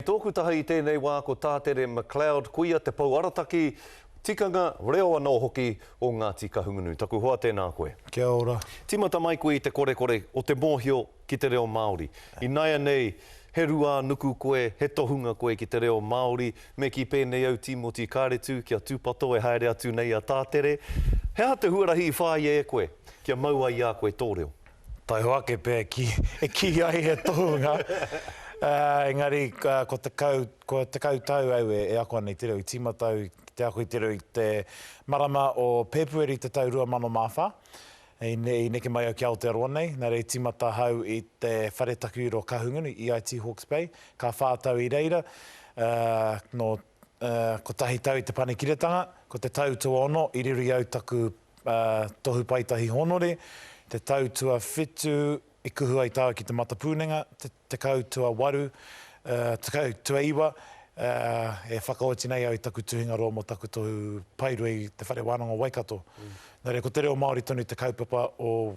Tōku taha i tēnei wā ko Tātere McLeod, koia te pou arataki, tikanga, reo anō hoki o Ngāti Kahungunu. Taku hoa tēnā koe. Kia ora. Tīmata mai koe i te korekore o te mōhio ki te reo Māori. Inaianei, he ruā nuku koe, he tohunga koe ki te reo Māori, me kī pēnei au Tīmoti Kāretu kia tūpato e haere atu nei a Tātere. He aha te huarahi i whāia e koe kia mau ai i a koe tō reo? Taiho ake pea e kī, e kī ai he tohunga, ā, engari ka, ko tekau, ko tekau tau au e, e ako ana i te reo, i tīmata au ki te ako i te reo i te marama o Pēpueri te tau 2004, i, i neke mai au ki Aotearoa nei, nā reira i tīmata ahau i te Whare Takiwiro Kahungunu, EIT Hawke's Bay, ka whā tau i reira, ā, nō, ā, kotahi tau i te Panekiretanga, ko te tau tuaono i riro i au taku Tohu Paetahi Honore, te tau tuawhitu i kuhu ai tāu ki te matapūnenga, te tekau tuawaru, tekau tuaiwa, e whakaoti nei au i taku tuhingaroa mō taku tohu paerua i Te Whare Wānanga o Waikato. Nō reira, ko te reo Māori tonu te kaupapa o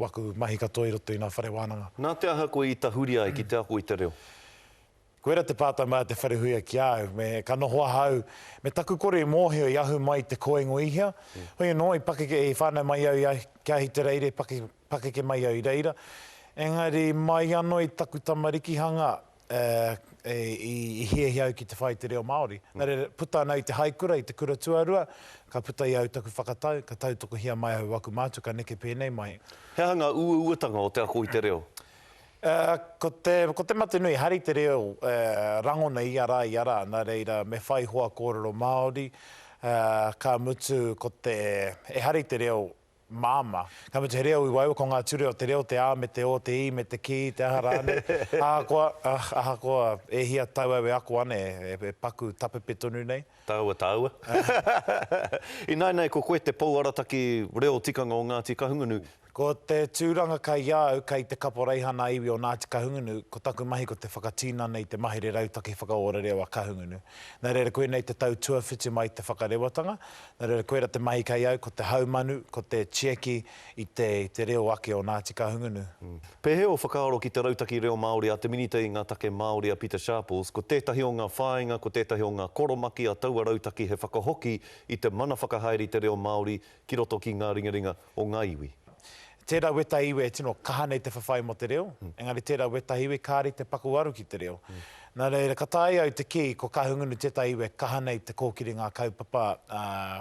waku mahi katoa i roto i ngā whare wānanga. Nā te aha koe i tahuri ai ki te ako i te reo? Koira te pātai mai a Te Wharehuia ki a au, me ka noho ahau, me taku kore i mōhio i ahu mai te kōingo i hea, hoi anō i pakeke, i whānau mai au i a ki Ahitereire, pakeke mai au i reira, engari mai anō i taku tamarikihanga i hiahia au ki te whai i te reo Māori. Nā reira, puta ana au i te haikura, i te kura tuarua, ka puta i au taku whakatau, ka tautokohia mai au o aku mātua ka neke pēnei mai. He aha ngā uauatanga o te ako i te reo? Ko te, ko te mate nui, hari te reo e rangona ia rā, ia rā, nā reira me whai hoa kōrero Māori, ka mutu ko te, e hari te reo māmā, ka mutu he reo i waewa, ko ngā ture o te reo, te ā me te ō, te i me te ki, te aha rānei, ahakoa, ahakoa e hia tau au e ako ana e, e paku tapepe tonu nei. Tāua, tāua. Ināinā ko koe te Pou Arataki Reo Tikanga o Ngāti Kahungunu, Ko te tūranga kai a au kai te Kaporeihana Iwi o Ngāti Kahungunu, ko taku mahi ko te whakatinana i te mahere rautaki whakaora reo a Kahungunu. Nā reira koinei te tau tuawhitu mai te whakarewatanga, nā reira koira te mahi kai au ko te haumanu, ko te tieki i te i te reo ake o Ngāti Kahungunu. Pēhea o whakaaro ki te rautaki reo Māori a te Minita i ngā Take Māori a Pita Sharples, ko tētahi o ngā whāinga, ko tētahi o ngā koromaki a taua rautaki he whakahoki i te mana whakahaere i te reo Māori ki roto ki ngā ringaringa. o ngā iwi. Tērā wētahi iwi e tino kaha nei te whawhai mō te reo, engari tērā wētahi iwi kāre i te pakuwaru ki te reo. Nā reira, ka taea au te kī, ko Kahungunu tētahi iwi e kaha nei te kōkiri ngā kaupapa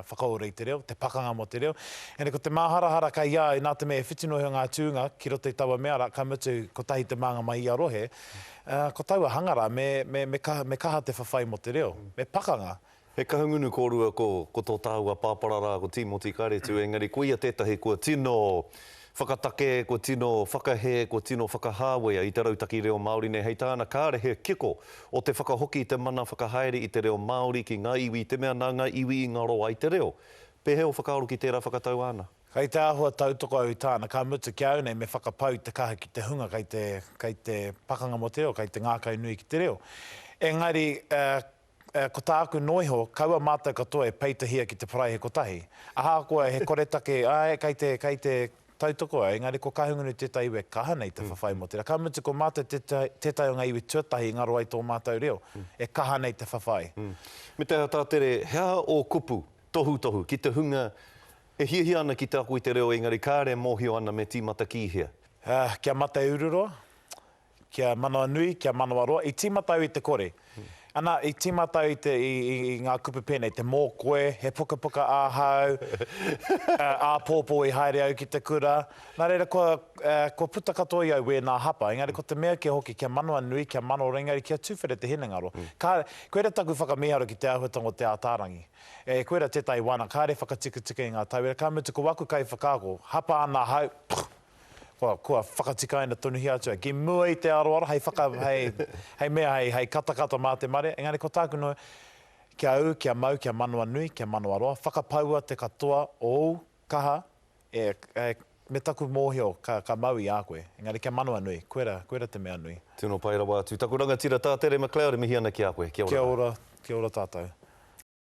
whakaora i te reo, te pakanga mō te reo. Engari ko te māharahara kei a au, nā te mea e whiti noa iho ngā tūnga ki roto i taua mea rā, ka mutu, kotahi te mānga mai i ia rohe, ko taua hanga rā, me kaha te whawhai mō te reo, me pakanga, He Kahungunu kōrua ko, ko tō tāua pāpara rā ko Tīmoti Karetu engari koia tētahi kua tino whakatake, kua tino whakahē, kua tino whakahāwea i te rautaki reo Māori nei hei tāna kāre he kiko o te whakahoki i te mana whakahaere i te reo Māori ki ngā iwi i te mea nā ngā iwi i ngaro ai te reo. Pēhea o whakaaro ki tērā whakatau āna? Kei te āhua tautoko au i tāna, ka mutu ki a au nei me whakapau i te kaha ki te hunga kei te, kei te pakanga mō te reo, kei te ngākau nui ki te reo. Engari, Ā, ko tāku noa iho, kaua mātou katoa e peitahia ki te paraihe kotahi. Ahakoa he koretake, āe, kei te, kei te tautoko au, engari ko Kahungunu tētahi iwi e kaha nei te whawhai mō tērā. Ka mutu, ko mātou tētahi, tētahi o ngā iwi tuatahi i ngaro ai tō mātou reo, e kaha nei te whawhai. Me te aha tā Tere, he aha ō kupu, tohutohu, ki te hunga e hiahia ana ki te ako i te reo, engari kāre e mōhio ana me tīmata ki hea? Ā, kia mate ururoa, Kia manawanui, kia manawaroa, i tīmata au i te kore. Ana, i tīmata au i te, i, i, i ngā kupu pēnei, te mō koe, he pukapuka ahau, āpōpō i haere au ki te kura. Nā reira, kua, kua puta katoa i au wēnā hapa, engari ko te mea kē hoki, kia manawanui, kia manawaroa, engari kia tuwhera te hinengaro. Ka, koira taku whakamīharo ki te āhuatanga o Te Ātaarangi. E, koira tētahi wānanga, kāre whakatikatika i ngā tauira, ka mutu ko aku kaiwhakaako, hapa ana ahau, kua, kua whakatikaina tonuhia atu ai, ki mua i te aroaro, hei whaka, hei, hei mea, hei, hei katakata mā te mare, engari ko tāku noho, kia ū, kia mau, kia manawa nui, kia manawa roa, whakapaua te katoa o ōu kaha, e, e, me taku mōhio, ka, ka mau i a koe, engari kia manawa nui, koera, koera te mea nui. Tino pai rawa atu. Taku rangatira tā Tere McLeod e mihi ana ki a koe. Kia ora. Kia ora, kia ora tātou.